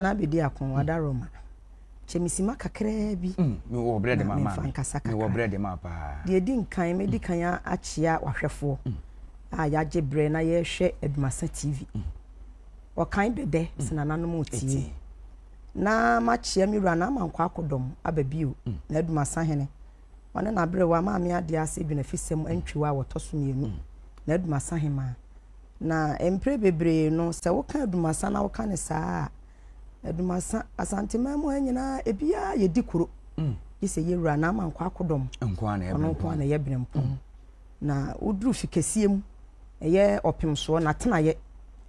Na bedi ako mm. wada roma kyɛ mesima kakraa bi mm, mewɔ berɛ de ma memfa nkasa kakra berɛ de ma paa deɛ ɛdi nkan mɛdi mm. kan akyea wahwɛfoɔ a yɛagye berɛ na yɛrehwɛ adumasa tv ɔkan bɛdɛ sɛ nananom ɔtie na makyea me wura na ama nkɔ akɔdɔm aba bio na adumasa hene ɔne naberɛwa maame adeɛ ase dwenafisɛm antwiwa a wɔtɔ so mmienu na adumasa hemaa Na mprɛ bebree no, sɛ woka Adumasa na woka ne saa a, Adumasa, Asanteman mu ha nyinaa, ebiara yɛ di kuro. Mm. Gye sɛ yɛwura na ama nkɔ akodɔm. Nkoa na yɛ Ɔno nkoa na yɛ Berempɔn. Mm. Na woduru fi kɛseɛ mu, ɛyɛ ɔpem soɔ, na tenayɛ.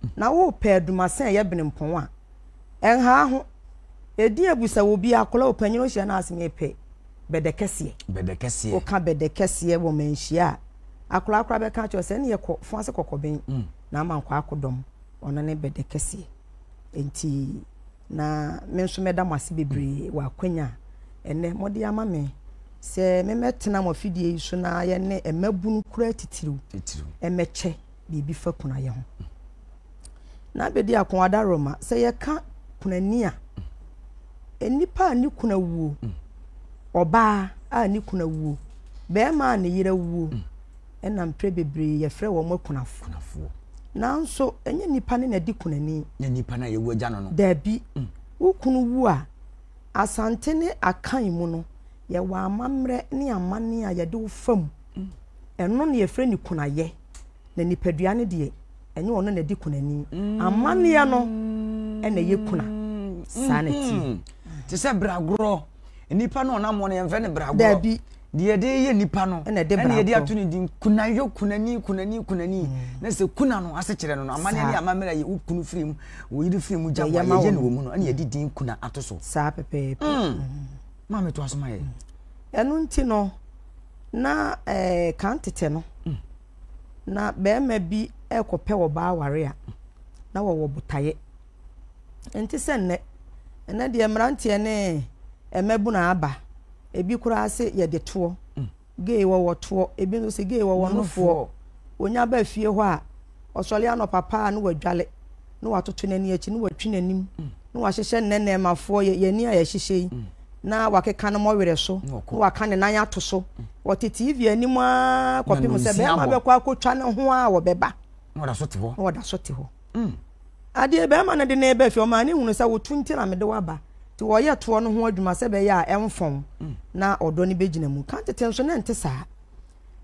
Mm. Na wopɛ Adumasa ɛyɛ Berempɔn a, Ɛnhaaho, ɛdi abu sɛ wɔ bia kɔla ɔpanyini ɔhyia no ase mepɛ bɛdɛkɛseɛ. Bɛdɛkɛseɛ. Ɔka bɛdɛkɛseɛ wɔ manhyia a, akɔla kora bɛka kyerɛ sɛ ne yɛ kɔ fo ase kɔkɔben mm. na ama nkɔ akodɔm ɔno ne bɛdɛkɛseɛ. Enti na me nso mɛda mo ase bebree mm. wɔ akwanya a ɛnɛ mode ama me sɛ memɛtena mo afidie yi so na yɛne mmabunu kura titiriw ɛmɛkyɛ biribi fa kunayɛ ho. Mm. na abɛdi ako adaroma sɛ yɛka kunani a nnipa a ne kuna wuo ɔbaa a ne kuna wuo bɛrima a ne yere wuo ɛna mprɛ bebree yɛfrɛ wɔn akunafoɔ nanso ɛnyɛ nnipa ne na di kunani nyɛ nnipa no a yɛwu agya no no daabi mm. wo kunu wu a asante ne akan mu no yɛwɔ amammerɛ ne amanne a yɛde wo fam mm. ɛno na yɛfrɛ ne kunayɛ Na nipadua no deɛ, ɛnyɛ ɔno na ɛdi kunani. Amanneɛ no na ɛyɛ kuna. Saa na ɛteɛ. Mm. Te sɛ bragorɔ. Nipa no ɔnam wɔn yɛmfɛ no bragorɔ. Daabi. Deɛ ɛde yɛ nipa no ɛna ɛde bragorɔ. Ɛna ɛde ato ne din kunayɔ kunani kunani kunani. Mm. Na sɛ kuna no ase kyerɛ no no amanneɛ ne amammerɛ yɛ wo kunu firi mu wo yere firi mu gya wɔn yɛyɛ no wɔ mu no ɛna ɛde din kuna ato so. Saa pɛpɛɛpɛ. Mm. Mm. Maame to aso ma yɛ. Ɛno nti no na ɛɛ eh, kan tetɛ no. Na barima bi rekɔpɛ ɔbaa aware a, na wɔwɔ botaeɛ. Ɛnte sɛ nnɛ. Ɛnnɛ deɛ mmeranteɛ ne mmabunu aba. Ebi koraa se yɛde toɔ. Mm. Gay wɔwɔ toɔ. Ebi nso se gay wɔwɔ nofoɔ. Wɔnya ba fie hɔ a, ɔsɔre anɔpa paa na wadwale. na watoto n'ani akyi na watwi n'anim na wahyehyɛ nnɛnnɛmafoɔ yɛni a yɛhyehyɛ yi mm. na wakeka no mɔwerɛ so na waka ne nan ato so mm. wɔte tv anim a kɔpem sɛ bɛrima bɛkɔ akɔtwa ne ho a wɔbɛba na wɔda so te hɔ na wɔda so te hɔ mm. adeɛ bɛrima no de ne ba fie ɔmaa ne hunu sɛ wotu nti na mede waba nti wɔyɛ toɔ no ho adwuma sɛ bɛyɛ a ɛmfɔn na ɔdɔ no bɛgyina mu ka tete nso ne nte saa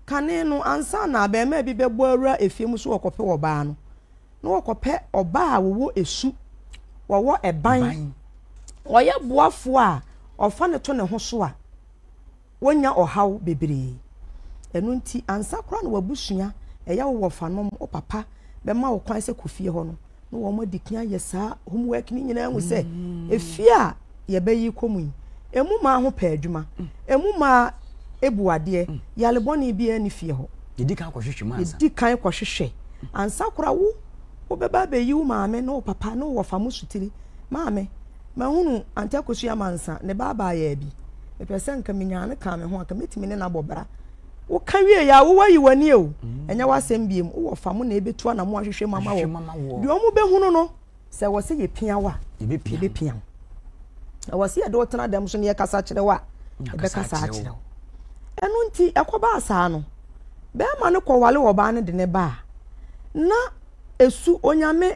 kane no ansa na bɛrima bi bɛbɔ awura efie mu so wɔkɔpɛ ɔbaa no na wɔkɔpɛ ɔbaa a wɔwɔ esu, wɔwɔ ɛban, ɔyɛ boafoɔ a ɔfa no to ne ho so a, wɔnya ɔhaw bebree. Ɛno nti, ansa koraa na w'abusua, ɛyɛ wo wɔfanom, wo papa bɛma wo kwan sɛ kɔ fie hɔ no, na wɔadi kan ayɛ saa homework no nyinaa ahu sɛ efie a, yɛbɛyi kɔ mu yi, emu maa ho pɛ adwuma, emu maa ebu adeɛ, yare bɔne biara ni fie hɔ. Yɛdi kan kɔhwehwɛ mu ansa. Yɛdi kan kɔhwehwɛ ansa kora wo wobɛba abɛyi wo maame ne wo papa ne wo wɔfa mo sutiri. Maame, mahunu Ante Akosu Amansa, ne ba abaayaa bi. Mepɛ sɛ nka menyaa no kaa me ho a, nka mɛtumi ne no abɔ bra. Woka wie yɛ a, wo wayi w'ani o, ɛnyɛ w'asɛm biom, wo wɔfa mo na ɛbɛtu anamo ahwehwɛ mu ama wo. Deɛ wɔbɛhunu no, Sɛ wɔ sɛ yɛpia wo a, yɛbɛpia wo. Na wɔ sɛ yɛde wo tena dɛm so na yɛkasa kyerɛ wo a, yɛbɛkasa akyerɛ wo. Ɛno nti, ɛkɔbaa saa no, bɛrima no kɔwale ɔbaa no de ne baa. Na ɛsu Onyame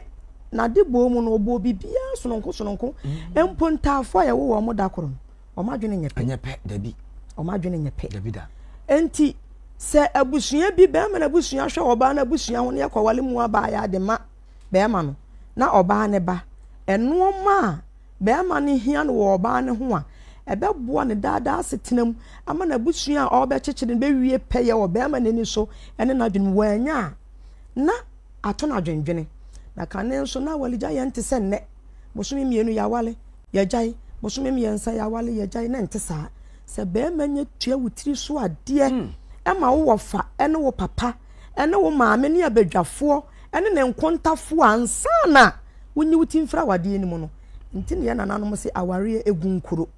n'ade bɔɔ mu no, ɔbɔɔ biribiara sononko sononko. Mm. Mpo ntaafoɔ a yɛwo wɔn da koro no, wɔn adwene nyɛ pɛ. Nyɛ pɛ, dabi. Wɔn adwene nyɛ pɛ. Dabi da. Enti, sɛ abusua bi, bɛrima no abusua hwɛ ɔbaa no abusua ho na yɛkɔwale mu abaa yɛ ade ma. bɛɛma no na ɔbaa no ba nnoɔma a bɛɛma no hia no wɔ ɔbaa no ho a, ɛbɛboa no daa daa asetena mu ama n'abusua a ɔɔbɛkyekyere no bɛwie pɛyɛ wɔ bɛɛma no ani so ɛne n'adwene mu. Waanya a, na ato no adwendwene. Na kane nso na awaregya yɛ nte sɛ nnɛ, bosome mmienu yɛawale, yɛagyae, bosome mmiɛnsa yɛawale, yɛagyae, na ɛnte saa. Sɛ bɛɛma nya tua wo tiri so adeɛ, ɛma wo wɔfa ɛne wo papa, ɛne wo maame ne abadwafoɔ, ɛne ne nkontafoɔ ansa na wonyi wo ti mfiri awadeɛ no mu no. Nti na yɛn nananom se awareɛ egu nkuro.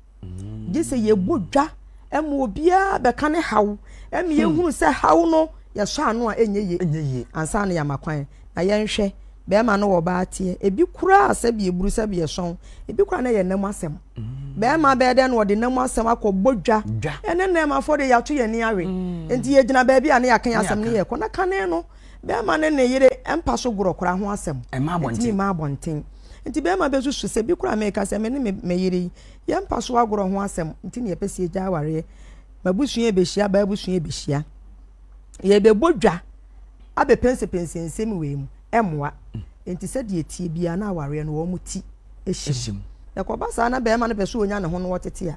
Gye sɛ yɛbɔ dwa ma obiara bɛka ne haw ma yɛhunu sɛ haw no yɛsɔ ano a ɛnyɛ yie ansa na yɛama kwan. Na yɛnhwɛ, bɛrima ne ɔbaa teɛ, ebi koraa sɛbi eburu sɛbi ɛsɔn, ebi koraa na ɛyɛ nna mu asɛm. Bɛrima bɛyɛ dɛn na ɔde nna mu asɛm akɔbɔ dwa? Ɛne nnɛɛmafoɔ deɛ yɛato yɛn ani awe. Nti yɛgyina baabi a na yɛaka yɛn asɛm na yɛkɔ. Na kane no, Bɛrima ne ne yere mpa so gorɔkora ho asɛm. Ɛma abɔnten. Ɛtumi ma abɔnten. Nti bɛrima bɛsusu sɛ bi koraa meka sɛ me ne me yere yi yɛmpa so agorɔ ho asɛm nti ne yɛpɛ sɛ yɛgya awareɛ. M'abusua bɛhyia, baa abusua bɛhyia. Yɛbɛbɔ dwa abɛpɛnsɛpɛnsɛ nsɛm wei mu. Ɛmmoa. Nti sɛdeɛ ɛtie biara na awareɛ no wɔn ti. hyɛ mu. Na ɛkɔba saa na barima no pɛ sɛ ɔnya ne ho no wɔtete a,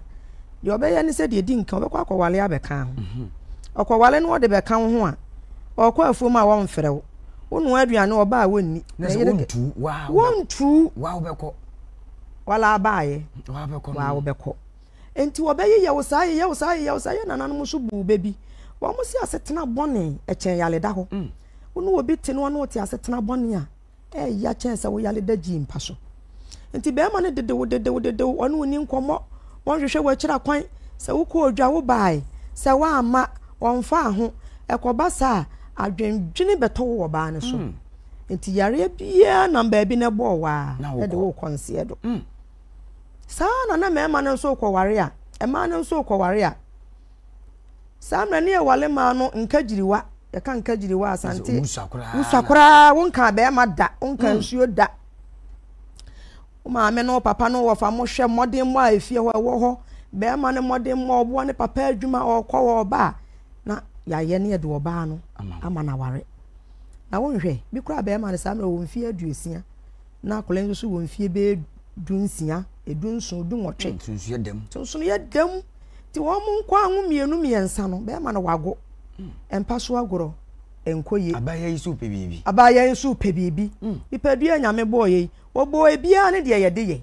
deɛ ɔbɛyɛ ne sɛ deɛ ɛdi nka ɔbɛkɔ akɔwale abɛka ho. Mhm. Ɔkɔwale no ɔde bɛka wo ho a, ɔkɔ afuom a wɔmfrɛ wo. Wonoa aduane ɔba a wɔnni. Na sɛ wɔntu wa wɔntu wa wobɛkɔ. Wala abaayɛ wa wobɛkɔ. Nti wɔbɛyeyɛ wo saa yeyɛ wo saa yeyɛ wo saa yɛ nananom nso buu bɛ bi. Wɔn se asetena bɔne ɛkyɛn yaleda hɔ. Mm. Wo ne obi te no ɔne wote asetena bɔne a ɛyɛ ya kyɛn sɛ wo yare da gyii mpa so. Nti bɛrima no dedew dedew dedew ɔne wo ni nkɔmmɔ, wɔnhwehwɛ wɔakyira kwan, sɛ wokɔ odwa wo bae, sɛ woamma wɔmfaa ho. Ɛkɔba saa a, adwendwene bɛtɔ wo wɔ baa no so. Mm. Nti yareɛ biara nam baabi na ɛbɔɔ waa ɛde wo kɔ nseɛ do. Mm. Saa na na mmarima no nso rekɔware a, mmaa no nso rekɔware a. Saa mmerɛ no yɛ wale maa no nkagyiriwa yɛka nkagyiriwa asante wusua koraa wonka bɛrima da wonka hmm. nsuo da wo maame no papa no wɔfa mo hwɛ mmɔden mmɔ a efie hɔ ɛwɔ hɔ bɛrima no mmɔden mmɔ ɔboa ne papa adwuma ɔkɔ wɔ ɔba a na yɛayɛ ne yɛde ɔbaa no ama no aware na wonhwɛ bi koraa bɛrima no saa mmerɛ wɔ mfeɛ aduosia na akwadaa yi nso wɔ mfeɛ bɛyɛ du nsia, du nson, du nwɔtwe. Hmm, sunsun yɛ dɛm. Sunsun yɛ dɛm. Nti wɔn mo nkɔ anwo mmienu mmiɛnsa no bɛrima no wago. Hmm. Mpa so agorɔ nkɔ yie. Abaayewa yi nso pɛ biribi. Abaayewa yi nso pɛ biribi. Hmm. Nipadua nyame bɔɔ yɛ yi wɔbɔɔ ebiara ne deɛ yɛde yɛ.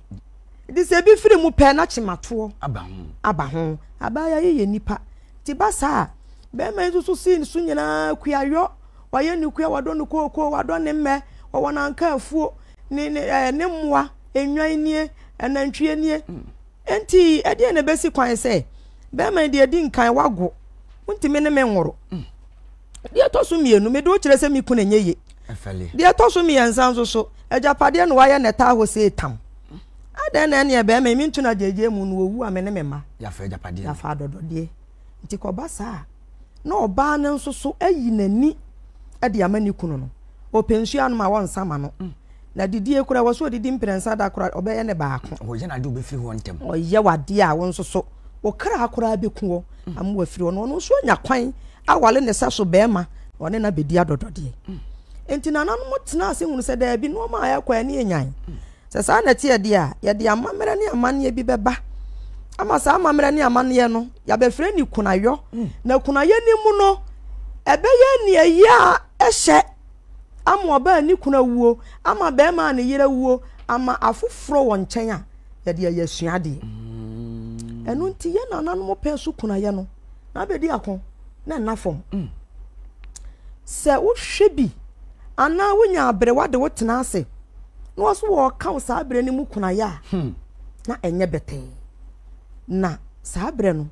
Nti sɛ ebi firi mu pɛ na kyematoɔ aba ho. Aba ho. Abaayewa yi yɛ nipa. Nti ba saa bɛrima yi nso so sii ne so nyinaa kuayɔ. Wayɛ ne kua, wadɔ ne kookoo, wadɔ ne mmɛ, ɔwɔ n'anka afuo, ne, ne, ɛɛ, ne mmoa, nnwan nie, anantwie nie. Enti, ɛdeɛ na ɛbɛsi kwan sɛ, bɛrima deɛ di nkan wago, wontumi ne me nworo. Deɛ ɛtɔ so mmienu, mede wo kyerɛ sɛ me kunu nyɛ ye. Deɛ ɛtɔ so mmiɛnsa nso so, agyapadeɛ na wayɛ na ɛtaa hɔ sɛ etam. Adɛn na ɛneɛ bɛrima yi mentu no agyegyeɛ mu no, wɔwu a me ne me mma. Yɛafa agyapadeɛ. Yɛafa adɔdɔdeɛ. Nti kɔba saa a. na ɔbaa no nso so ayi n'ani de ama ne kunu no. Ɔpɛ nsuo anom a wɔnsa ma no. Na didie koraa wɔ so ɔdidi mprɛnsa da koraa ɔbɛyɛ ne baako. Ɔyɛ n'ade ɔbɛfiri hɔ ntɛm. Ɔyɛ w'adeɛ a wo nso so wo kra koraa bɛku hɔ ama wafiri hɔ no ɔno nso anya kwan awale ne sa so bɛrima na ɔne no abɛdi adɔdɔdeɛ. Nti nananom tena ase hunu sɛ daabi nneɛma a ɛkɔ ani nyan. Sɛ saa na ɛteɛ deɛ a, yɛde amammerɛ ne amanneɛ bi bɛba ama saa amammerɛ ne amanneɛ no, yɛabɛfrɛ ne kunayɔ. Hmm. Na kunayɛ no mu no, ɛbɛyɛ nea yɛ a ɛhyɛ ama ɔbaa ne kuna wuo, ama bɛrima a ne yere wuo, ama afoforɔ wɔ nkyɛn a, yɛde ayɛ asuadeɛ. Hmm. Ɛno nti yɛ nananom pɛɛ so kunayɛ no. na abɛdi ako na nna fam. Mm. Sɛ wohwɛ bi anaa wonya aberewa de wo tena ase na wɔso wɔka wo saa berɛ no mu kunayɛ a hmm. na ɛnyɛ bɛtɛɛ na saa berɛ no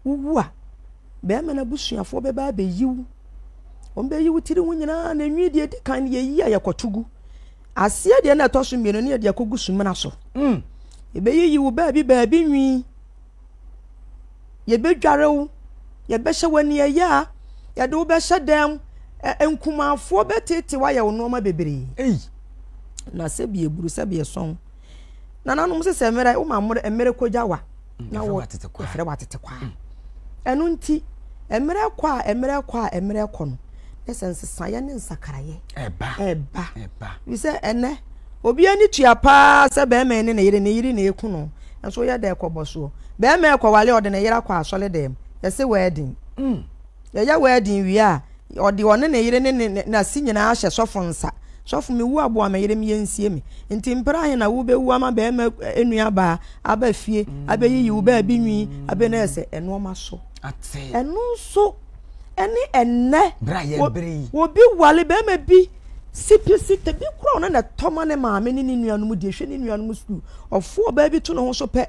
wowu a bɛrima no abusuafoɔ bɛba abɛyi wo wɔn bɛyi wo tiri ho nyinaa na enwi deɛ edi kan yɛyi a yɛkɔto gu aseɛ deɛ na ɛtɔ so mmienu ne yɛde akɔgu sumina so hmm. ebeyiyi wo baabi baabi nwi Yɛbɛdware wo, yɛbɛhyɛ wo aniɛyaa, yɛde wo bɛhyɛ dan mu, ɛ nkumanfoɔ bɛtete wo ayɛ wo nneɛma bebree. Ei, na sɛbi eburu sɛbi ɛsɔn. Nananom sɛ sɛ mmerɛ woma mmerɛ mmerɛ kɔgya wa mm, na wɔ ɛfrɛ wɔ atete kwa. Mm. Ɛno nti mmerɛ kɔ a mmerɛ kɔ a mmerɛ kɔ no ne sɛ nsesaeɛ ne nsakraeɛ ɛba ɛba ɛba. Bisɛ ɛnɛ. Obi ani tua paa sɛ bɛɛma ɛne ne yere, ne yere na ɛku no, nso woyɛ dɛn kɔbɔ soɔ? Bɛɛma ɛkɔwale a ɔde ne yere akɔ asɔredɛm, yɛse wɛɛdin. Yɛyɛ wɛɛdin wie a, ɔde ɔne ne yere ne ne nase nyinaa hyɛ sɔfo nsa, Sɔfo mewu aboa me yere me yɛnsie me. Nti mpere ahe na wobɛwu ama bɛɛma nuabaa aba fie abɛyiyi wo baabi nwi, abɛnɛɛsɛ nnoɔma so? Ɛno nso. ɛne ɛnnɛ obi wale bɛrima bi si pi si te bi kura ɔno na ɛtɔ ma ne maame ne ne nuanom di ehwɛ ne nuanom sukuu ɔfo ɔbaa bi to ne ho so pɛ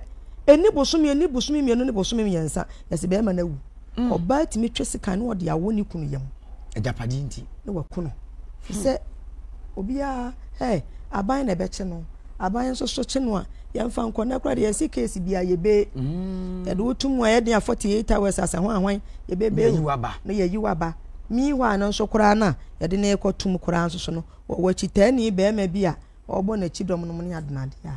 ɛni bosomi ɛni bosomi mmienu ne bosomi mmiɛnsa yɛsi bɛrima na awu mm. ɔbaa tumi twɛ sika ne ɔde awɔ ne kunu yam agyapadeɛ nti ne wakunu hmm. sɛ obiara ɛ aban na ɛbɛkye no Aban nso so kye no a yɛmfa nkɔ na koraa deɛ yɛsi case bi a yɛbɛ mm. yɛde wo tum a yɛde a forty eight hours asɛ ho ahwan yɛbɛ bɛ na yɛyi waba mii hɔ a no nso koraa no a yɛde ne kɔ tum koraa nso so no wɔwɔ akyitaani bɛrima bi a ɔbɔ n'akyi dɔm nom ne adenadeɛ a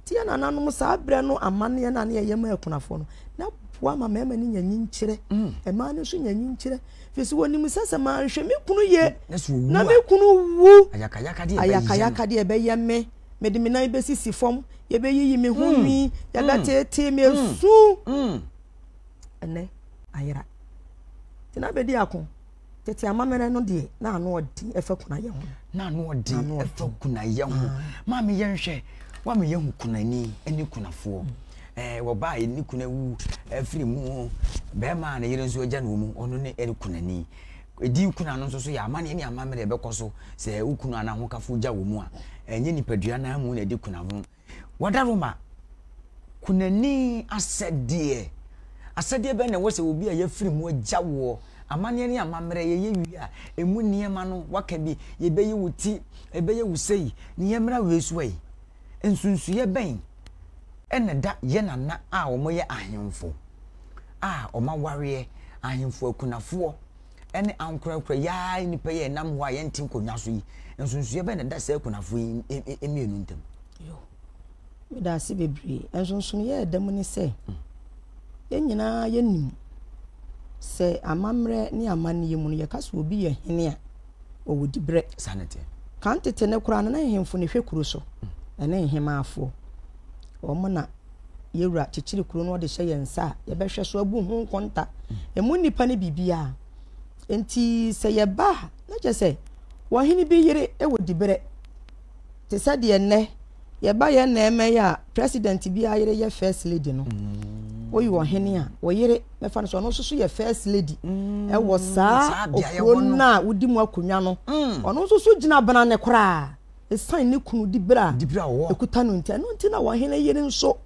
tie nananom saa berɛ no amanneɛ no a ne yɛyɛ ma akunafoɔ no na boa ma mmarima no nya nyinkyerɛ mm. mmaa no nso nya nyinkyerɛ Fisi wɔnim sɛ sɛ manhwɛ me kunu yie na me kunu wu ayakayakadeɛ ɛbɛyɛ me mede me nan bɛsisi fam yɛbɛyiyi me ho nwi mm. mm. yɛbɛteetee me asu mm. ɛnɛ ayera nti na bɛdi ako tete amammerɛ no deɛ na ano ɔden ɛfa kunayɛ ho na ano ɔden ɛfa kunayɛ ho ah. maame yɛnhwɛ wama yɛhu kunani ne kunafoɔ Wɔ ba a ne kunu awu afiri mu, barima a ne yere nso agya no wɔ mu, ɔno ne ɛyɛ kunani. Edin kuna no nso so yɛ amanneɛ ne amammerɛ a ɛbɛkɔ so sɛ wo kunu anaa ahokafo gya wɔ mu a, ɛnyɛ nipadua no ara mu na ɛde kuna ho. Wɔda Roma kunani asɛdeɛ. Asɛdeɛ bɛn na ɛwɔ sɛ obi a yɛafiri mu agya woɔ? Amanneɛ ne amammerɛ yɛyɛ wie a, emu nneɛma no waka bi, yɛbɛyi wo ti, ɛbɛyɛ wo sei, ne yɛmmra wei so ei. Nsunsuiɛ bɛn na ɛda yɛn nana a wɔyɛ ahemfo a wɔawareɛ, ahemfo akunafoɔ, ne ankorɛkorɛ yaae nnipa yi a ɛnam hɔ a yɛnte nkonnwa so yi, nsunsuiɛ bɛn na ɛda saa akunafoɔ yi e, e, mmienu ntam? Yo, meda ase bebree. Nsonsonoeɛ a ɛda mu ne sɛ, mm. yɛn nyinaa yɛnim sɛ amammerɛ ne amanneɛ mu no, yɛka sɛ obi yɛ hene a, ɔwɔ diberɛ. Saa na ɛteɛ. Kan tete no koraa no, na nhemfo na ɛhwɛ kuro so, ɛne nhemaafoɔ. Wɔn na Yɛwura kyekyere kuro no, ɔde hyɛ yɛn nsa a, yɛbɛhwɛ so abu ho nkonta. Ɛmu nnipa ne biribiara. Enti sɛ yɛba a, na kyerɛ sɛ, ɔhene bi yere wɔ diberɛ, te sɛ deɛ nnɛ, yɛba yɛ na ɛmɛ yɛ a president bi ayere yɛ first lady no mm. woyi ɔhene a wɔyere mɛfa no so ɔno nso so yɛ first lady mm. ɛwɔ saa okuro no a wodi mu akonnwa no mm. ɔno nso so gyina bena ne koraa esan ne kunu di bere a ekuta no nti ɛno nti na ɔhene yere nso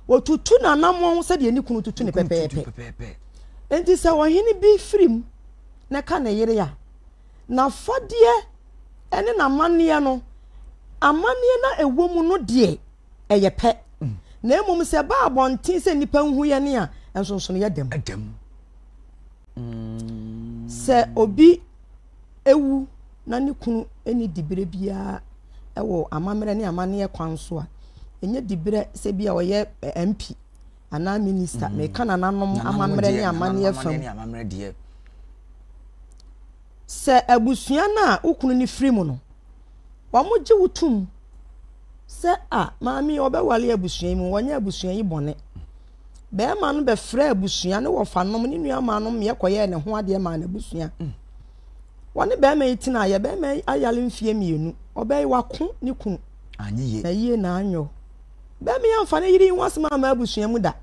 wɔtutu n'anamɔn sɛdeɛ ne kunu tutu ne pɛpɛɛpɛ nti sɛ ɔhene bi firi mu na ɛka ne yere a. n'afadeɛ ne n'amanneɛ no, amanneɛ no a ɛwɔ mu no deɛ ɛyɛ pɛ, na mmom sɛ ɛba abɔnten sɛ nnipa nhu yɛn a, nsonsono yɛ dɛm. Sɛ obi ewu na ne kunu nni dibere biara wɔ amammerɛ ne amanneɛ kwan so a, ɛnyɛ dibere sɛ bi a ɔyɛ MP anaa minista, meka nananom amammerɛ ne amanneɛ fa mu. Sɛ abusua no a wo kunu no firi mu no, wɔgye wo tom sɛ a maame yi ɔbɛwale abusua yi mu, wɔnyɛ abusua yi bɔne. Bɛrima no bɛfrɛ abusua ne wɔfanom ne nuamaanom mmeɛ kɔyɛɛ ne ho adeɛ maa n'abusua. Mm. Wɔne bɛrima yi tena yɛ bɛrima yi ayale mfeɛ mmienu, ɔbɛyi wako ne kunu. Anyɛ yie. Na yie na anyɔ. Bɛmee amfa ne yere yi ho asɛm amma abusua mu da,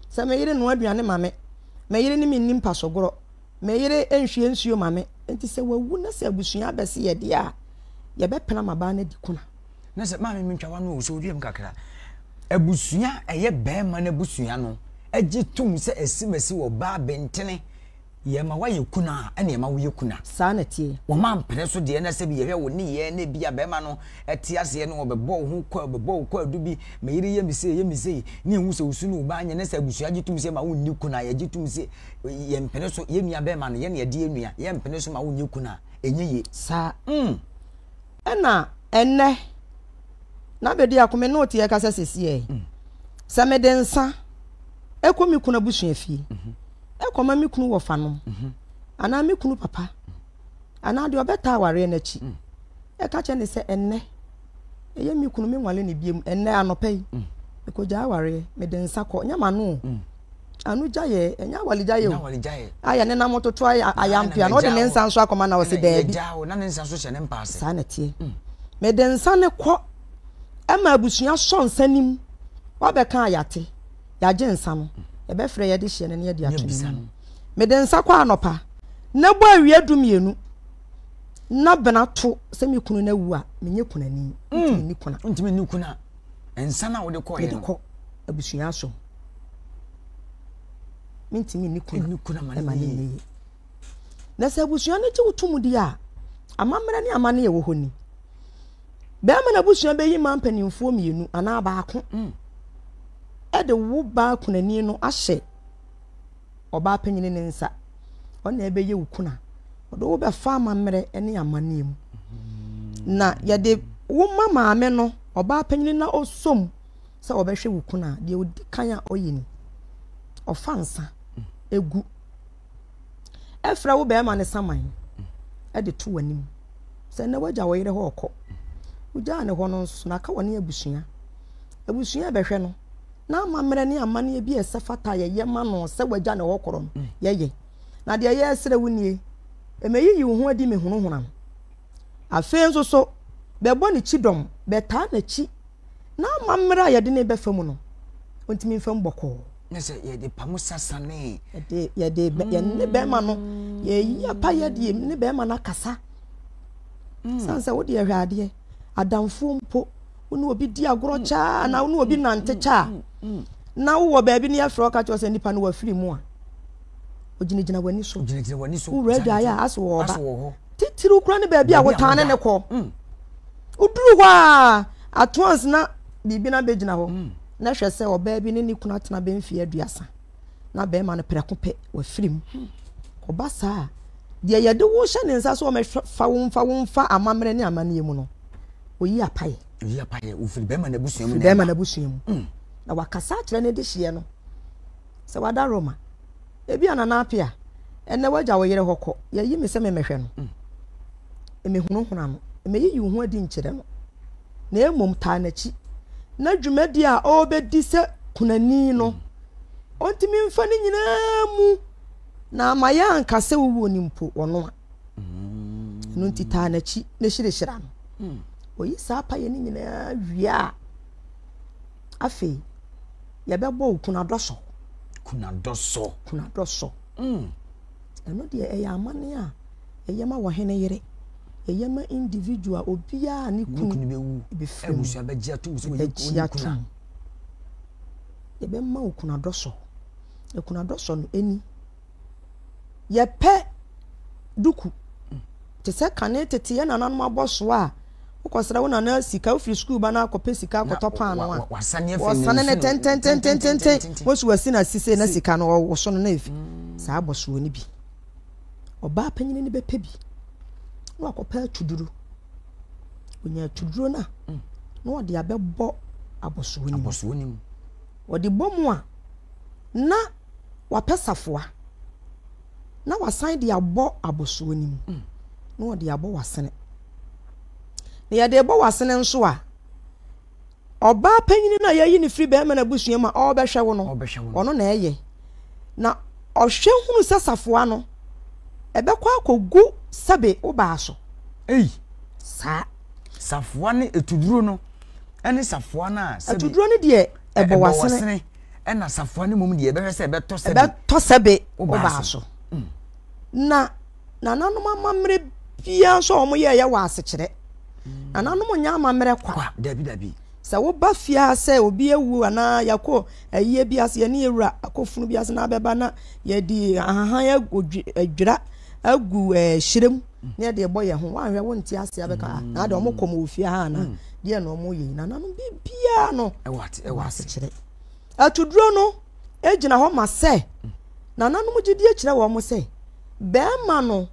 sɛ me yere noa aduane ma me, me yere ne me nni mpasogorɔ, me yere nhwie nsuo ma me. Enti sɛ wawu na sɛ abusua abɛse yɛ deɛ a, yɛbɛpena ma baa no adi kuna. Na sɛ maame me ntwawa no ɔsɔ wiem kakra, abusua a ɛyɛ barima no abusua no gye tom sɛ asimasi wɔ baa bentene. Yɛma woayɛ kunu a, ɛna ɛma woyɛ kunu a. Saa na ɛteɛ. Wɔma mpene so deɛ na sɛ bi yɛhwɛ wo nneyɛɛ na ebia bɛrima no te aseɛ no ɔbɛbɔ wo ho kwa, ɔbɛbɔ wo kwaadu bi, me yere yɛ me sei, yɛ me sei, ne ɛhu sɛ wosu ne wo ba anyɛ na sɛ abusua gye tom sɛ ma wonni kunu a, yɛgye tom sɛ yɛn mpene so yɛn nua bɛrima no yɛn na yɛde yɛn nua, yɛn mpene so ma wonyɛ kunu a, ɛnyɛ yie. Saa. Mm. Ɛna ɛnnɛ, na bɛdi ako me ne wo te yɛkasa sɛsiɛ, sɛ mede nsa kɔ me kunu abusua fie, mm-hmm. kɔma me kunu wɔfanom mhm. anaa me kunu papa anaa deɛ ɔbɛtaa awareɛ no akyi mm. ɛka kyerɛ ne sɛ ɛnnɛ ɛyɛ me kunu menwale ne biam ɛnnɛ anɔpɛ yi mm. mekɔgyaa awareɛ mede nsa kɔ nyɛ mano o mm. ano gyaeɛ ɛnyɛ awalegyaeɛ o ayɛ ne nam toto ayampea na ɔde ne nsa nso akɔma na ɔse daabi saa na teɛ mede nsa ne kɔ ɛma abusua sɔ nsa nim wabɛka ayate yɛagye nsa no, yɛbɛfrɛ yɛde hyeɛ no na yɛde ato n'anim. Mede nsa kɔ anɔpa, na bɔ awia du mmienu, na bena to sɛ me kunu no awu a, menyɛ kunani. Hmm. Ntumi ni kuna. Ntumi ni kuna. Nsa na wode kɔ yɛ no. Mede kɔ abusua asom. Mentumi ni kuna. Ni kuna ma ne yie. Na sɛ abusua no gye wo tom di a, amammerɛ ne amane yɛ wɔ hɔ ni. Bɛrima no abusua bɛyi mmaa mpanimfoɔ mmienu anaa baako de wo baa kunani no ahyɛ ɔbaa panyin ne nsa. Ɔna ɛbɛyɛ wo kuna. Ɔde wo bɛfa amammerɛ ne amanneɛ mu. Na yɛde wo ma maame no ɔbaa panyin na ɔsom sɛ ɔbɛhwɛ wo kuna. Deɛ ɔdi kan a ɔyɛ ni. Ɔfa nsa egu. ɛfrɛ wo bɛrima no saman de to w'anim sɛ na wagya wo yere hɔ ɔkɔ wogyaa ne hɔ no nso na aka wɔne abusua abusua ɛbɛhwɛ no na amammerɛ ne amanneɛ bi a ɛsɛ fata yɛyɛ ma no sɛ wagya ne hɔ korɔ no mm. yɛyɛ na deɛ yɛresrɛ wo nie ɛmɛyiyi wo ho adi mehunahuna no afei nso so bɛbɔ ne kyidɔm bɛtaa n'akyi na ama mmerɛ a yɛde ne bɛfa mu no ɔntumi mfa mu bɔkɔɔ ne sɛ yɛde pa mu sasanee yɛde yɛne bɛrima no yɛyi apa yɛde ne bɛrima no akasa mm. sane sɛ wode yɛhwɛ adeɛ adamfoɔ mpo wo ne obi di agorɔ mm. kyaa na wo ne obi mm. nante kyaa na wowɔ baabi ne yɛfrɛ ɔka kyerɛ sɛ nnipa no wafiri mu a ogyinagyina w'ani so wowura adwaeɛ a asɛ wɔ ɔba titiriw kora ne baabi a wotaa ne ne kɔ Woduru hɔ a, at once na biribi na bɛgyina hɔ. Hmm. Na hwɛ sɛ ɔbaa bi ne ne kunu atena bɛ mfeɛ aduasa. Na bɛrima no prɛko pɛ, wafiri mu. Hmm. Ɔba saa a, deɛ yɛde wo hyɛ ne nsa so ɔmɛfa wo mfa wo mfa amammerɛ ne amanneɛ mu no, oyi apaeɛ. Oyi apaeɛ, ofiri bɛrima n'abusua mu. Firi bɛrima n'abusua mu. Hmm. Na wakasa akyerɛ ne de hyeɛ no. sɛ wada Roma. Ebia Nana Appiah, ɛnnɛ w'agya wo yere hɔ kɔ, yɛayi me sɛ memmɛhwɛ no. Mm. Mmehunahuna no, mmeyiyi wo ho adi nkyerɛ no, na mmom taa n'akyi, na dwumadi a ɔrebɛdi sɛ kunani no, mm. ɔntumi mfa ne nyinaa mu na ama yɛ anka sɛ wowuo no mpo wɔno a. Mm. Ɛno nti taa n'akyi na hyirahyira no. Mm. Oyi saa pa yɛ ne nyinaa wie a, Afei, yɛbɛbɔ wo kunadɔ so. Kunadɔ so. Kunadɔ so. Mm. Ɛno deɛ ɛyɛ amane a ɛyɛ ma wɔhene yere. Ɛyɛ ma individual obiara ne kunu bɛwu. Ɛbɛfiri mu. Ɛbɛgye atom sɛ wɔyɛ kunu. Ɛbɛgye atom. Yɛbɛma wo kunadɔ so. Kunadɔ so no ɛni. yɛpɛ duku te sɛ kane tete yɛ nananom abɔ soa a wokɔsrɛ wo nana sika wofiri sukuu ba no akɔpɛ sika akɔtɔ paano a wɔsane ne tententententen wɔsi wasi na sise na sika no wɔwoso no na efi saa abɔ soɔ no bi ɔbaa panyin no bɛpɛ bi na wakɔpɛ atuduro onya atuduro no a na ɔde abɛbɔ abɔsoɔ no mu ɔde bɔ mu a na wapɛ safoa na wasan de abɔ abɔsoɔ no mu na ɔde abɔ w'asene. Na yɛde bɔ w'asene nso a, ɔbaa panyini no a yɛayi no firi bɛrima no abusua mu a ɔrebɛhwɛ wo no, ɔno na ɛyɛ. Na ɔhwɛ hunu sɛ safoa no, ɛbɛkɔ akɔgu sɛbe wo baa so. Ei! Saa. Safoa ne ɛtuduro no ɛne safoa no a sɛbe. Ɛtuduro no deɛ ɛbɔ w'asene. ɛna safoa no mmom deɛ ɛbɛhwɛ sɛ ɛbɛtɔ sɛbe ɛbɛtɔ sɛbe wobaa so mm. na nananom amammerɛ biara nso a wɔyɛɛyɛ wɔ asekyerɛ mm. nananom nyɛ amammerɛ kwa dabi dabi sɛ woba fie a sɛ obi awu anaa yɛkɔ ayie bi ase yɛne yɛwura akɔfunu bi ase na abɛba na yɛde ahahan adwira agu hyerɛ mu na yɛde ɛbɔ yɛn ho woanhwɛ wonte ase abɛka na ade ɔmokɔm wɔ fie ha anaa mm. deɛ na wɔn yɛ nyinaa no biribiara no ɛwɔ asekyerɛ atuduro no gyina hɔ ma sɛ nananom gyidie kyerɛ wɔn sɛ bɛrima no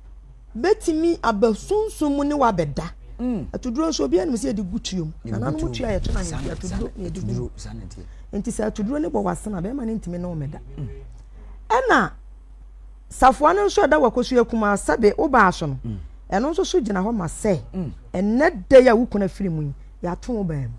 bɛtumi aba sunsun mu ne wabɛda mm. atuduro nso obi anim sɛ yɛde gu tuom nananom tua yɛto na yɛde atuduro na yɛde gu nti sɛ atuduro ne bɔ wɔ asena bɛrima no ntumi ne wɔn ɛda mm. ɛna. Safoa no nso a ɛda Wakosu akum a sɛbe wo baa so no, ɛno nso so gyina hɔ ma sɛ ɛnnɛ da yi a wo kunu afiri mu yi, yɛato wo baa mu.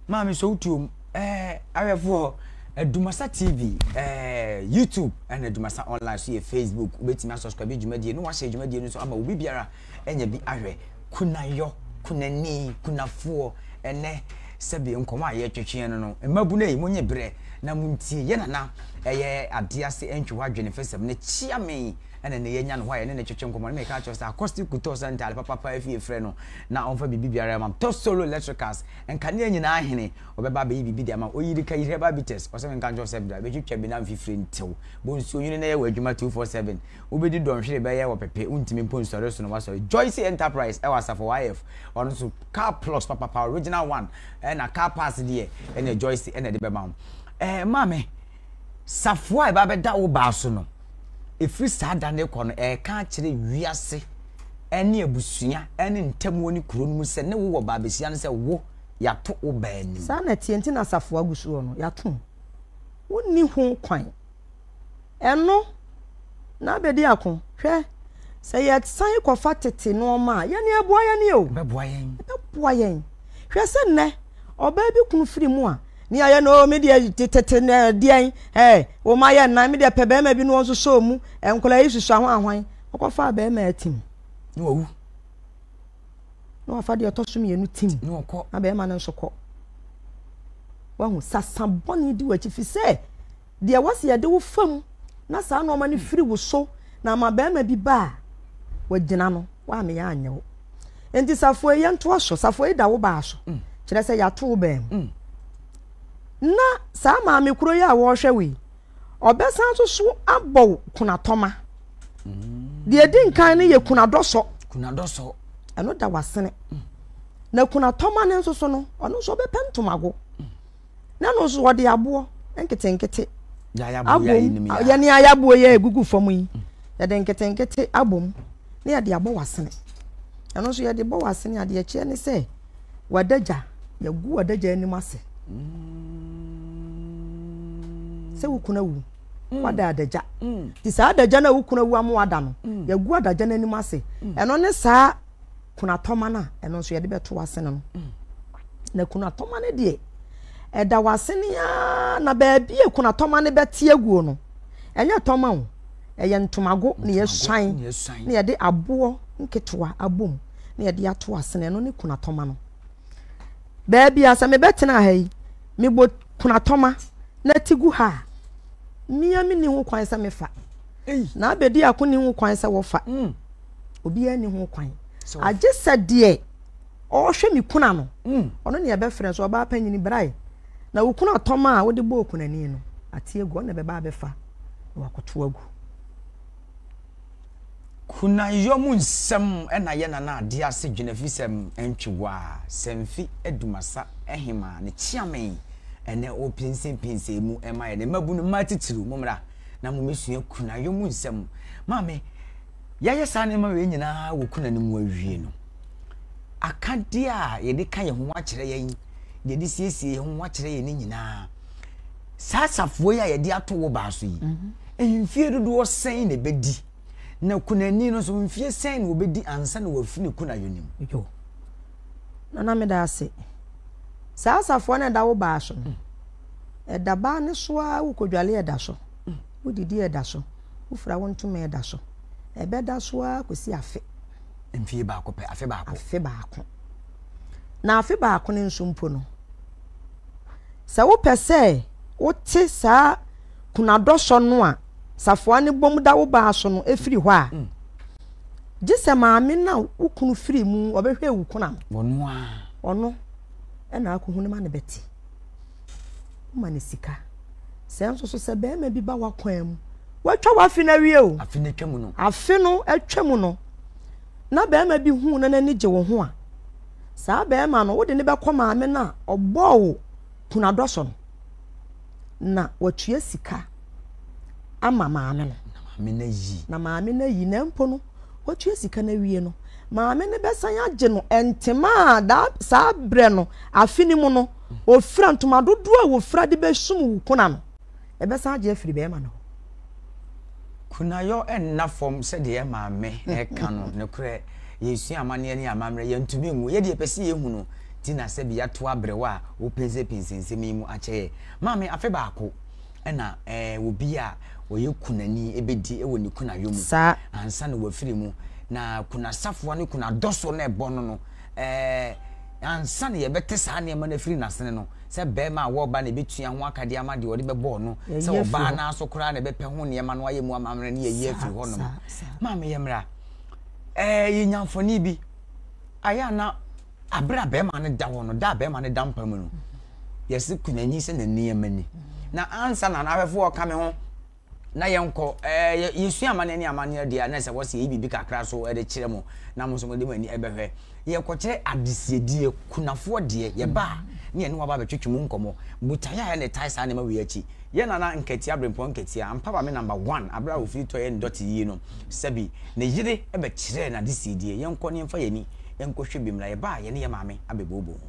Maame sɛ wotuo mu eh, awɛfoɔ Adumasa TV eh, YouTube ɛna Adumasa online so yɛ Facebook wobɛtumi asubscribe dwumadie na wahyɛ dwumadie no nso ama obi biara anya bi ahwɛ, kunayɔ, kunani, kunafoɔ, ɛnnɛ, sɛbi nkɔmɔ a yɛtwetweɛ no no, mmabunu ei, monye berɛ na montie, yɛ nana ɛyɛ adeɛ ase ntwe hɔ adwene fɛsɛm no kyia me, ɛna nnɛ yɛanya no hɔ a yɛne no twetwe nkɔmɔ, na meka akyerɛ sɛ akɔste kutɔ sɛ ntaade papapa afie frɛ no na ɔmfa biribi biara ma tɔ solo electricals, nkanea nyinaa hene, ɔbɛba abɛyi biribi de ama ɔyiri ka yiri herbal bitters, ɔsɛ menka nkyerɛ wo sɛ bra bɛtwitwa bi na mfifire ntew, bɔ nsuo nwene na yɛ w'adwuma 247. Wobedi dɔnhwere bɛyɛ ɔpepe, wontumi mpo nsɔre nsono w'asɔre. Joyce Enterprise ɛwɔ Asafo YF, ɔno nso car plus papapa original one, ɛna car parts deɛ ɛneɛ Joyce ɛna ɛde bɛma wo. Ɛɛ maame, safoa a ɛba bɛda wo baa so no, ɛfiri saa da no rekɔ no, ɛreka akyerɛ wiase ɛne abusua ɛne ntamuo ne kuro no mu sɛ ne wo wɔ baa bɛsia no sɛ wo, yɛato wo baa anim. Saa na ɛteɛ nti na safoa gu soɔ no, yɛato mu. Wonni ho kwan. Ɛno, na abɛdi ako. Hwɛ, sɛ yɛsan kɔfa tete nnoɔma a, yɛne ɛboa yɛne o. Ɛbɛboa yɛn. Ɛbɛboa yɛn. Hwɛ sɛ nnɛ, ɔbaa bi kunu firi mu a, ne ayɛ no, me deɛ tete na deɛn, ɛɛ, wo ma yɛ nnan, me deɛ pɛ bɛrima bi na wɔn nso sɔɔ mu, nkwadaa yi susu ahwan ahwan, ɔkɔfa bɛrima atim. Ne wawu. Na wafa deɛ ɔtɔ so mmienu tim. Ne ɔkɔ. Na bɛrima no nso kɔ. Wahu sasa bɔne di w'akyi fi sɛ. deɛ ɛwɔ sɛ yɛde wo fa mu na saa nnoɔma no firi wo so na ama barima bi ba a wagyina no woameyɛ anyɛ wo nti safoe yɛntoa so safoe da wo baa so mm. kyerɛ sɛ yɛato wo baa mu mm. na saa maame kuro yi a wɔrehwɛ wei ɔbɛsan nso so abɔ wo kunatɔma mm. deɛ ɛdi nkan no yɛ kunadɔsɔ kunadɔsɔ ɛno da wasene na kunatɔma no nso so no ɔno nso ɔbɛpɛ ntomago na no nso wɔde aboɔ nketenkete abom yɛne ayaboɔ yɛ egugu fam yi mm. yɛde nketenkete abom na yɛde abɔ w'asene ɛno nso yɛde bɔ w'asene adeɛ kyerɛ ne sɛ w'adagya yɛgu w'adagya anim ase sɛ wokuna wu mm. wada adagya mm. nti saa adagya no a wokuna wu ama wada no yɛgu adagya no anim ase ɛno ne saa kunatɔma no a ɛno nso yɛde bɛto w'asene no na kunatɔma no deɛ ɛda w'asene a na baabi a kunatɔma no bɛte aguo no ɛnyɛ tɔma o ɛyɛ ntomago na yɛsuan na yɛde aboɔ nketewa abom na yɛde ato asene ɛno ne kunatɔma no baabi a sɛ mebɛtena ha yi mebɔ kunatɔma na ti gu ha a mmea menni ho kwan sɛ mefa na abɛdi ako ne ho kwan sɛ wɔfa mm. obiara ni ho kwan agye sɛ deɛ ɔhwɛ me kuna no mm. ɔno ne ɛbɛfrɛ so ɔbaa panyini brae na wo kuna tɔm a wode bɔ okunani no ate agu ɔna ɛbɛba abɛfa na wakoto agu kunayɔ mu nsɛm ɛna yɛ nana adeɛ ase dwene fi sɛ ntwewa sɛ mfi adumasa ɛhema ne kyeame ɛnɛ o pinsinpinsin mu ɛma yɛ ne mmabunu mmaa titiriw mu mmra na mo mesua kunayɔ mu nsɛm maame yɛayɛ saa nneɛma wei nyinaa wɔ kuna no mu awie no, akadeɛ a yɛde ka yɛn ho akyerɛ yɛn, yɛde siesie yɛn ho akyerɛ yɛn no nyinaa, saa safoɔ yi a yɛde ato wo baa so yi, mhm. mfie dodoɔ sɛn na ɛbɛdi? Na kunani no nso mfie sɛn na wɔbɛdi ansa na wɔafi ne kunayɔ no mu? Na na meda ase. Saa safoɔ no ɛda wo baa so no, mm. ɛda baa ne so ara wokɔdwale ɛda so. Wodidi a ɛda so, wofira wo ntoma a ɛda so. Ɛbɛda so ara kɔsi afe. Mfeɛ baako pɛ, afe baako. Afe baako. Na afe baako no nso mpo no, sɛ wopɛ sɛ wote saa kunadɔsɔ no a safoa no bom da wo baa so no firi hɔ a, mm. gye sɛ maame no a wo kunu firi mu ɔbɛhwɛ wo kunam. Ɔno a. Ɔno ɛna akɔhu no ma no bɛte. woma no sika sɛ nso so sɛ bɛrima bi ba w'akwan mu watwa w'afe no awie o afe no atwa mu no afe no atwa mu no na bɛrima bi hu na n'ani gye wo ho a saa bɛrima no wode ne bɛkɔ maame no a ɔbɔɔ wo kunadɔ so no na watua sika ama maame no na maame no ayi na maame no ayi na mpo no watua sika no awie no maame no bɛsan agye no ntoma a saa berɛ no afe no mu no Ofira ntoma dodoɔ a wɔfira de bɛsum wo kuna no, ɛbɛsan agye afiri barima no hɔ. Kunayɔ nna fam sɛdeɛ Maame reka no, nokorɛ, yɛresua amanneɛ ne amammerɛ, yɛntumi nwu, yɛdeɛ yɛpɛ sɛ yɛhu no, nti na sɛbi yɛato aberewa a wopensepense nsɛm yi mu akyɛ yɛn. Maame, afe baako na eh, obi a ɔyɛ kunani bɛdi wɔ ne kunayɔ mu Saa. ansa na wafiri mu, na kunasafoa ne kunadɔsoɔ no a ɛbɔ no no, eh, Ansa na yɛbɛte saa nneɛma no afiri n'asene no, sɛ barima a ɔwɔ ɔba na ebetua ho aka de ama deɛ ɔde bɛbɔɔ no, sɛ ɔbaa no ara so koraa na ɛbɛpɛ ho nneɛma no ayɛ mu amammerɛ no, yɛayi afiri hɔnom. Maame, yɛmmra. Ɛɛ, yɛnya mfoni bi. Ayɛ a na abere a barima no da hɔ no, da a barima no da mpa mu no, yɛse kunyanyi sɛ n'ani ama ni. Na ansa na n'ahwɛfo ɔka me ho. na yɛnkɔ ɛɛ eh, yɛsua amanneɛ ne amanneɛ deɛ na sɛ wɔsi yɛyi biribi kakra so ɛde kyerɛ mo na mo nso mo de mo ani ɛbɛhwɛ yɛkɔkyerɛ adesiedeɛ kunafoɔ deɛ yɛba a ne yɛne waba abɛtwetwe mu nkɔmɔ botaeɛ a yɛne tae saa nneɛma wei akyi yɛ nana nkatia berempɔn nkatia ampa ba me number one abere a wɔfiri tɔ yɛ ndɔte yie no sɛbi ne yere ɛbɛkyerɛ n'adesiedeɛ yɛnkɔ ne yɛmfa yɛni yɛnkɔhwɛ bi mmra yɛba a yɛne yɛ maame abɛbooboo ho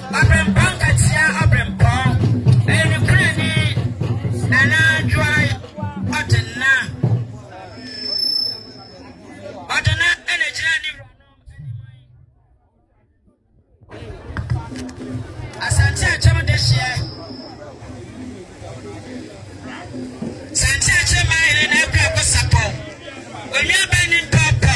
Ɔbrempɔn ka tia ɔbrempɔn. Ɛyɛ nokorɛ ne Nana Adwoa Ɔdena. Ɔdena ɛna ɛgyina ne wura no anim. Asante akyɛm de hyeɛ. Sante akyɛm maa yɛn na ɛbrɛ ko sapɔ. Onua bɛn ne ntɔ pɔ.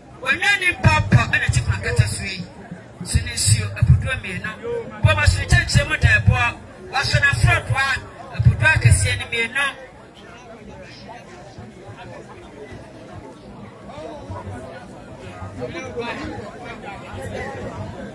Wɔnyaa ne mpɔmpɔ na ɛte kuro nkɛtɛ so yi so ne nsuo apodoɔ mmienu, bɔ ma soro kyɛnkyerɛ mu da ɛboɔ, wɔasɔ no aforɔ doa apodoɔ akɛseɛ no mmienu. Thank you.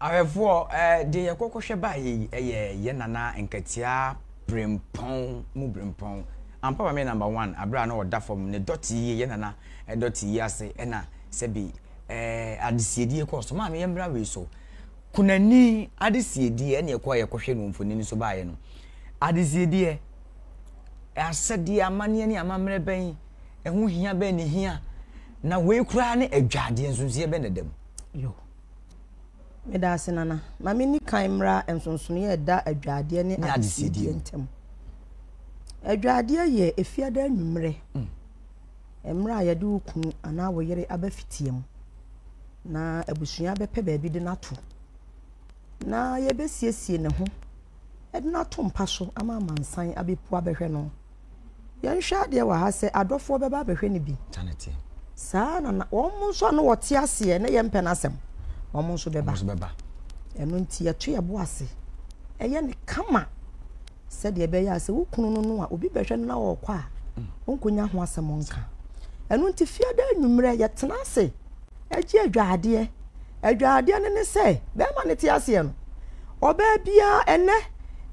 Ahwɛfoɔ, deɛ yɛkɔ kɔhwɛ baeɛ yi yɛ yɛn nana nkatia brempɔn mu brempɔn ampa ma me number one abere a na ɔda fam ne dɔte yie yɛn nana dɔte yie ase ɛna sɛbi ɛɛ adesiedie kɔɔ so maa no yɛn mmra wei so. Kunani adesiedeɛ ɛne ɛkɔ a yɛkɔhwɛ no mfonini nso baeɛ no adesiedeɛ asɛdeɛ amanneɛ ne amammerɛ bɛn ɛho hia bɛn ne hia na wei koraa ne adwadeɛ nsonsoeɛ bɛn na ɛda mu yo meda ase nana ma menni kan mmra nsonsonoeɛ a ɛda adwadeɛ ne adesiedeɛ ntam adwadeɛ yɛ efiada anwummerɛ mm. Mmerɛ a yɛde wo kunu anaa wo yere aba fitia mu, na abusua bɛpɛ baabi de no ato, na yɛbɛsiesie ne ho de no ato mpa so ama amansan abɛpu abɛhwɛ no. Yɛnhwɛ adeɛ wɔ ha sɛ adɔfoɔ bɛba abɛhwɛ no bi. Saa na na wɔn nso a na wɔte aseɛ na yɛmpɛ no asɛm, wɔn nso bɛba. Ɛno nti yɛto yɛbo ase, ɛyɛ ne kama. sɛdeɛ ɛbɛyɛ a sɛ wo kunu no no a obi bɛhwɛ no na ɔrekɔ a ɔnkɔnya ho asɛm nka ɛno nti fiada anwummerɛ yɛtena ase agye adwaadeɛ adwaadeɛ no ne sɛ bɛrima no te aseɛ no ɔbaa biara ɛnɛ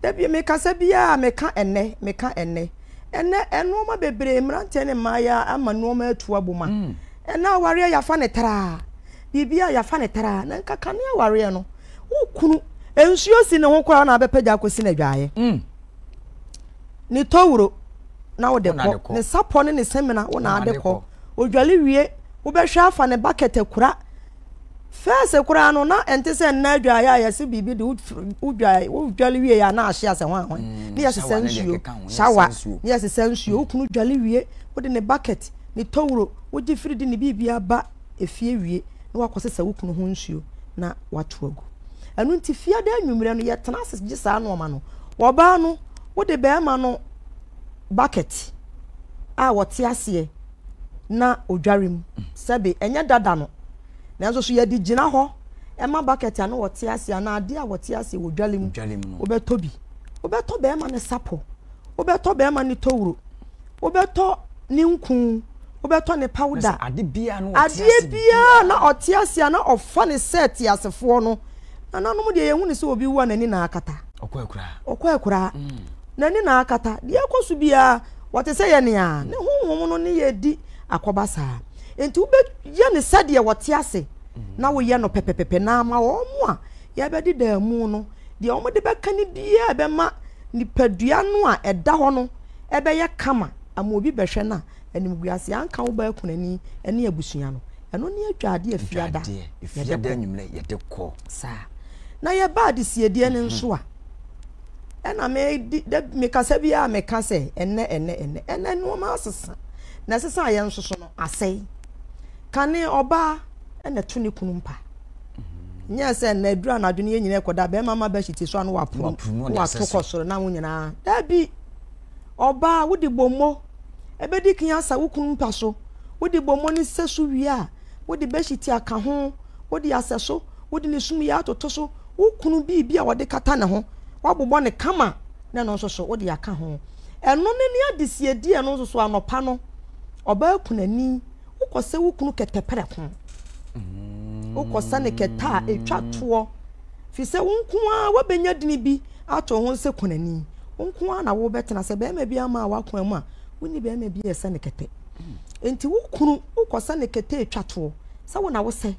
dabi mekasa biara meka ɛnɛ meka ɛnɛ ɛnɛ nnoɔma bebree mmeranteɛ ne mmaayɛ ama nnoɔma atu abom a mm. ɛnɛ awareɛ yɛafa ne traa biribi a yɛafa ne traa na nkakane awareɛ no Wo kunu, nsuo si ne ho koraa na abɛpagya akɔsi no adwaeɛ. Mm. Ne towuro na wode kɔ, ne sapɔ ne ne semena wo na ade kɔ. Odwale wie, wobɛhwɛ afa ne bakɛt akura. Fɛɛse koraa no na ɛnte sɛ nna adwaeɛ a yɛse biribi de wodwale wie a na ahye asɛ ho ahoe. Mm, ne yɛsesa nsuo, shawa, ne yɛsesa nsuo. Wo kunu dwale wie, wode ne bakɛt, ne towuro, wogye firi de ne biribi aba. efie wie na woakɔsesa wo kunu ho nsuo na woato agu. Ɛno nti fiada anwummerɛ no yɛtena ase gye saa nnoɔma no. Ɔbaa no, wode bɛrima no bucket a wɔte aseɛ na ɔdware mu. Sɛbe, ɛnyɛ dada no. Nanso so yɛde gyina hɔ ɛma bucket a na wɔte aseɛ anaa adeɛ a wɔte aseɛ wɔ dwale mu. Wobɛtɔ bi. Wobɛtɔ bɛrima no sapɔ. Wobɛtɔ bɛrima no towuro. Wobɛtɔ ne nku, wobɛtɔ ne pawda. Adeɛ biara na ɔte ase a na ɔfa no sɛ teasefoɔ no, nananom deɛ yɛhu no sɛ obi wu a n'ani na akata. Ɔkɔ akuraa. Mm. N'ani na akata. Deɛ ɛkɔ so biara wɔte sɛ yɛ nea ne honhom no ne yɛ di akɔba saa. Nti wobɛyɛ no sɛdeɛ wɔte ase mm. na woyɛ no pɛpɛpɛpɛ na ama wɔn a yɛbɛde daa mu no deɛ wɔde bɛka no biara ɛbɛma nipadua no a ɛda hɔ no ɛbɛyɛ kama ama obi bɛhwɛ no a, animguaseɛ anka wo baakunani ne abusua no. Ɛno ne adwaadeɛ a fiada yɛde kɔ. Saa. Na yɛba adesiedie no nso a, ɛna mekasa bi a meka sɛ ɛnɛ ɛnɛ ɛnɛ ɛnɛ nneɛma asesa na ɛsesa a yɛn nso so no asɛe kane ɔbaa ɛna ɛto ne kunu mpa nyɛ sɛ na aduru anadwo no yɛ nyina ɛkɔda bɛrima ma bɛhyɛ ti so ano wapunu wato kɔ soro na wo nyinaa dabi Ɔbaa, wode bɔmmɔ bɛdi kan asa wo kunu mpa so. Wode bɔmmɔ no sɛ so wie a, wode bɛhyiti aka ho, wode asɛ so, wode ne sum yɛ atoto so, wo kunu biribi a wɔde kata ne ho, woabobɔ ne kama na ɛno nso so wode aka ho. Ɛno ne ne adesiedie ɛno nso so anɔpa no, ɔbaa kunani. wokɔsɛ wo kunu kɛtɛ prɛko mm. wokɔsɛ ne kɛtɛ a ɛtwa toɔ firi sɛ wo nko ara woabɛnya dini bi ato ho sɛ kɔnani wo nko ara na wobɛtena sɛ bɛrima bi ama a woakoa mu a wonni bɛrima bi yɛ sɛ ne kɛtɛ nti wo kunu wokɔsɛ ne kɛtɛ ɛtwa toɔ sɛ wo na wosɛ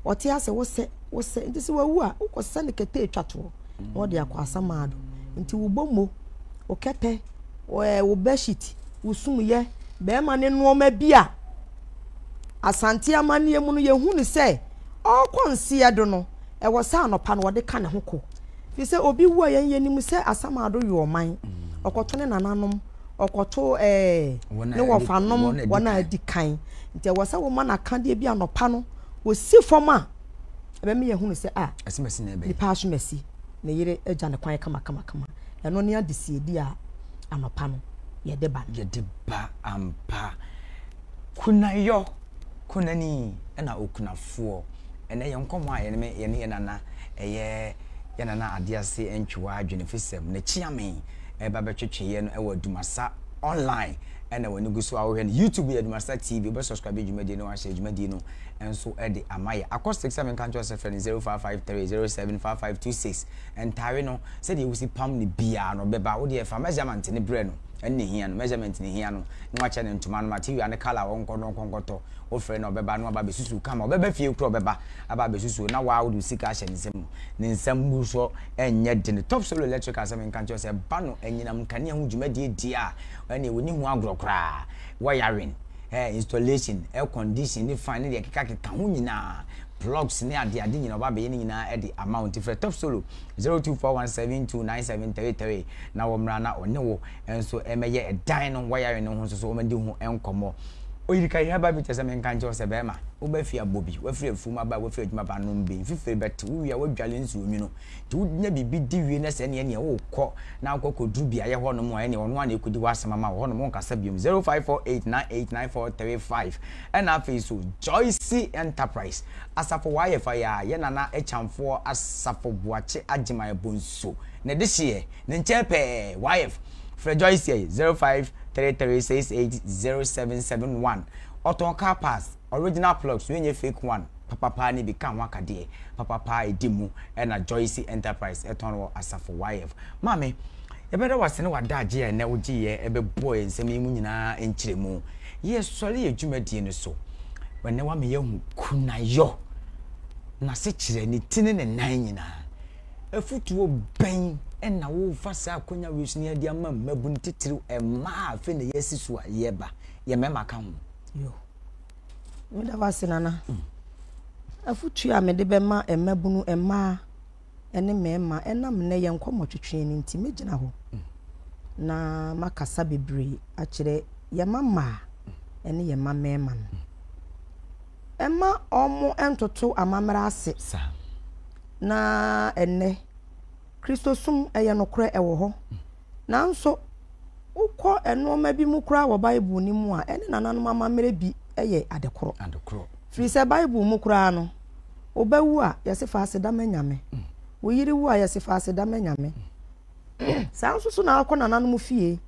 ɔte ase wosɛ wosɛ nti sɛ wawu a wokɔsɛ ne kɛtɛ ɛtwa toɔ na wɔde akɔ asamaa do. Ntsi wo bɔmu, wo kɛtɛ, ɛɛ wo bedsheet, wo sumyɛ, bɛrima ne nneɛma bi a Asante amanneɛ mu no yɛhu no sɛ ɔrekɔ nseɛ do no, ɛwɔ sɛ anɔpa no wɔde ka ne ho kɔ. Firi sɛ obi wu a yɛn yɛnim sɛ asamaa do yɛ ɔman. Ɔkɔto ne nananom, ɔkɔto ɛɛ ne wɔfanom wɔn a adi kan. Nti ɛwɔ sɛ woma no akadeɛ bi anɔpa no, wɔsi fam a ɛbɛ mi yɛ hunu sɛ a asimasi na ɛbɛ nipa asomasi ne yere agya ne kwan kama kama kama ɛno ne adesiedi a anɔpa no yɛde ba no yɛde ba ampa kunayɔ kunani ɛna okunafoɔ ɛnɛ yɛn nkɔmɔ a yɛne me yɛne yɛn nana ɛyɛ yɛn nana adease ntwewa adwene fisɛm ne kyeame ɛba bɛtwetwe yɛ no ɛwɔ adumasa online ɛna wɔn ani gu so a wɔhwɛ no youtube yɛ adumasa tv wɔbɛ subscribe dwumadie no wɔahyɛ dwumadie no nso de ama yɛ. Acoustics a menka nkyerɛ wo sɛ frɛ no 0553075526. Ntaare no, sɛdeɛ wosi pam no biara no, bɛba. Wo deɛ fa measurement no brɛ no. Ɛno na ɛhia no. Measurement na ɛhia no. Na wakyerɛ no ntoma no material ne colour a ɔnkɔ na ɔnkɔ nkɔtɔ. Wofrɛ no a ɔbɛba na waba abɛsusu wo kama. Ɔbɛba fie koraa ɔbɛba aba abɛsusu wo na waa wode wo sika ahyɛ ne nsam no. Ne nsa mmu so nyɛ den. Top Solo Electricals a menka nkyerɛ wo sɛ ba no anyinam nkanea ho dwumadie di a, ɛnneɛ wɔnni ho agorɔ koraa. Wiring. ɛɛ, installation, air condition ne fan ne deɛ ɛkeka keka ho nyinaa, plugs ne ade ade nyinaa ɔba abɛyɛ ne nyinaa de ama wo nti frɛ top solo zero two four one seven two nine seven three three na wɔn mmra na ɔne wo nso ɛmɛyɛ ɛdan no wiring no ho nso so wɔn di ho nkɔmɔ oyirika yɛ herbal bitters ɛmɛ nka nkyɛw sɛ bɛrima wobɛfi abɔ bi wafiri afuom aba wafiri adwuma ba nom bi mfifiri bɛte wo wia wadwale nsuo nwunu Sɛ wunya biribi di wie na sɛ ɛne ɛneɛ wokɔ na wokɔ kɔduru beaeɛ hɔ nom a ɛneɛ ɔno ara na ɛkɔdi hɔ asɛm ama wo hɔ nom wonkasa biom 0548989435 ɛna afei nso Joyce Enterprise asafo wɔ ayɛ fa yi a yɛ nana Akyamfoɔ asafo Boakye Agyeman Abonso na ɛde hyeɛ ne nkyɛn pɛɛ wɔ ayɛ frɛ Joyce 0533680771 ɔtɔn car parts Original plugs no nyɛ fake one papapaa no bi ka ho akadeɛ papapaa ɛdi mu ɛna Joyce Enterprise tɔn wɔ Asafo YF. Maame, yɛbɛda wo ase ne w'adagye a ɛnnɛ wogyeeɛ bɛbɔɔ yɛn nsɛm yi mu nyinaa nkyerɛmu. Yɛsɔre yɛn dwumadie no so. Ɛnnɛ woama yɛahu Kunayɔ, n'asekyerɛ, ne ti ne ne nan nyinaa. Afotuo bɛn na worefa saa akwanya wei so na yɛde ama mmabunu titiriw mmaa a afei na yɛasi so a yɛreba, yɛn mmarima ka ho? Meda wo ase Nana. Afotuo a mede bɛma mmabunu mmaa ne mmarima ɛnam nnɛ yɛn nkɔmmɔtwetweɛ no nti, mɛgyina hɔ na makasa bebree akyerɛ yɛn mma mmaa ne yɛn mma mmarima no. Ɛma wɔn ntoto amammerɛ ase. Na ɛnnɛ, Kristosom ɛyɛ nokorɛ ɛwɔ hɔ. Nanso, wokɔ nneɛma bi mu koraa wɔ Bible no mu a, ɛne nananom amammerɛ bi yɛ ade koro. Firi sɛ Bible mu koraa no, wo ba wu a, yɛse fa aseda ma Nyame. Mm. Wo yere wu a, yɛse fa aseda ma Nyame. Mm. Saa nso so na akɔ nananom fie.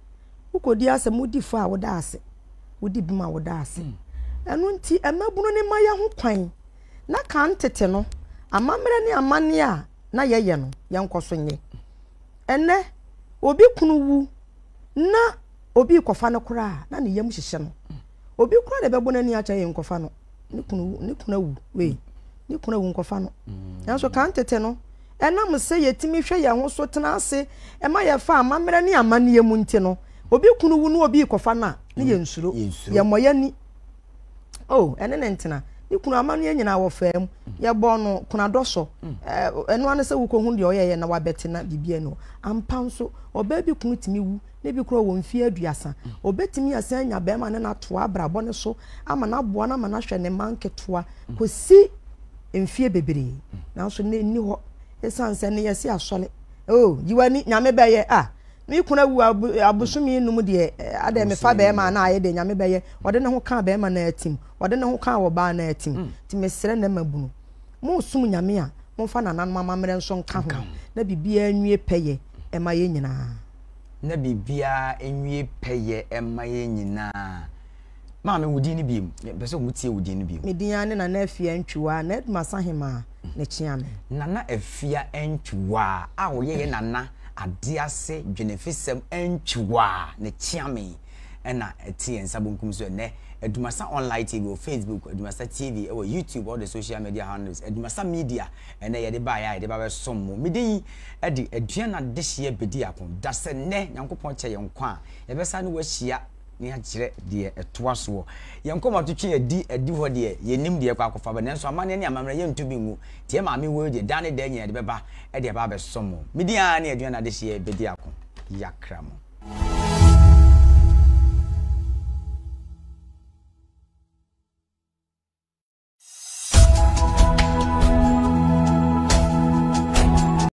Wokɔdi asɛm, wodi fo a woda ase. Wodi bem a woda ase. Mm. Ɛno nti, mmabunu ne ma yɛ ho kwan. Na kan tete no, amammerɛ ne amanneɛ a na yɛyɛ no, yɛnkɔ so nyɛ. Ɛnnɛ, obi kunu wu na obi rekɔfa no koraa a, na ne yam hyehyɛ no. Obi koraa na ɛbɛbɔ n'ani akyɛ yɛ nkɔfa no. Ne kunu wu, ne kunu awu, wei, ne kunu awu nkɔfa no. Nanso kan tete no, ɛnam sɛ yɛtumi hwɛ yɛn ho so tena ase ɛma yɛfa amammerɛ ne amanneɛ mu nti no, obi kunu wu na obi rekɔfa no a, na yɛnsuro, yɛmmɔ yɛn ani. oh ɛne ne ntena ne kunu amanneɛ nyinaa wɔfaa mu yɛbɔɔ no kunadɔ sɔ ɛno ano sɛ wokɔhu deɛ ɔyɛyɛ na wabɛte na biribi ani hɔ ampa nso ɔbaa bi kunu tumi wu ne bi korɔ wɔ mfeɛ aduasa ɔbɛtumi asan anya bɛrima ne no atoa abrabɔ no so ama no aboa no ama no ahwɛ ne ma nketewa kɔsi mfeɛ bebree nanso na ɛnni hɔ ɛsiane sɛ ne yɛse asɔre oh yiwani nyame bɛyɛ ah Me kunu awu abosome enum deɛ adɛn mefa bɛrima a na ayɛ deɛ nyame bɛyɛ ɔde ne ho kaa bɛrima no atim ɔde ne ho kaa wɔ baa no atim mm. nti mesrɛ na ma bunu monsom nyame a momfa nananom amammerɛ nso nka ho na biribiara nwie pɛyɛ ɛma yɛ nyinaa na biribiara nwie pɛyɛ ɛma yɛ nyinaa Maame, wo din no biem. Yɛpɛ sɛ wɔtie wo din no biem. Me din ara ne Nana Afia Ntwiwaa, na Edma Sahemaa na ɛkyea me. Nana Afia Ntwiwaa a ɔyɛ yɛn Nana Adease Dwenefisɛm Ntwiwaa na ɛkyea me ɛna ɛte yɛn nsa bonkum so ɛnɛ. Adumasa Online TV wɔ Facebook, Adumasa TV wɔ YouTube, all the social media handles, Adumasa Media ɛnɛ yɛde baeɛ a yɛde ba bɛsom mo. Mede yi de aduan adehyeɛ bɛdi ako. Dasɛ nnɛ Nyankopɔn kyɛ yɛn nkwa a, yɛbɛsan ne wo ahyia. ne akyerɛ deɛ ɛtoa soɔ. Yɛn nkɔmɔ to twe adi adi hɔ deɛ, yɛnnim deɛ ɛkɔ akɔfa ba, nanso amanneɛ ne amammerɛ yɛnto bi ngu. Deɛ maame wɔ yi deɛ, daa ne daa nyinaa ɛde bɛba de aba abɛsɔ mo. Me din ara ne aduane adehyeɛ bɛdi ako. Yɛakra mo.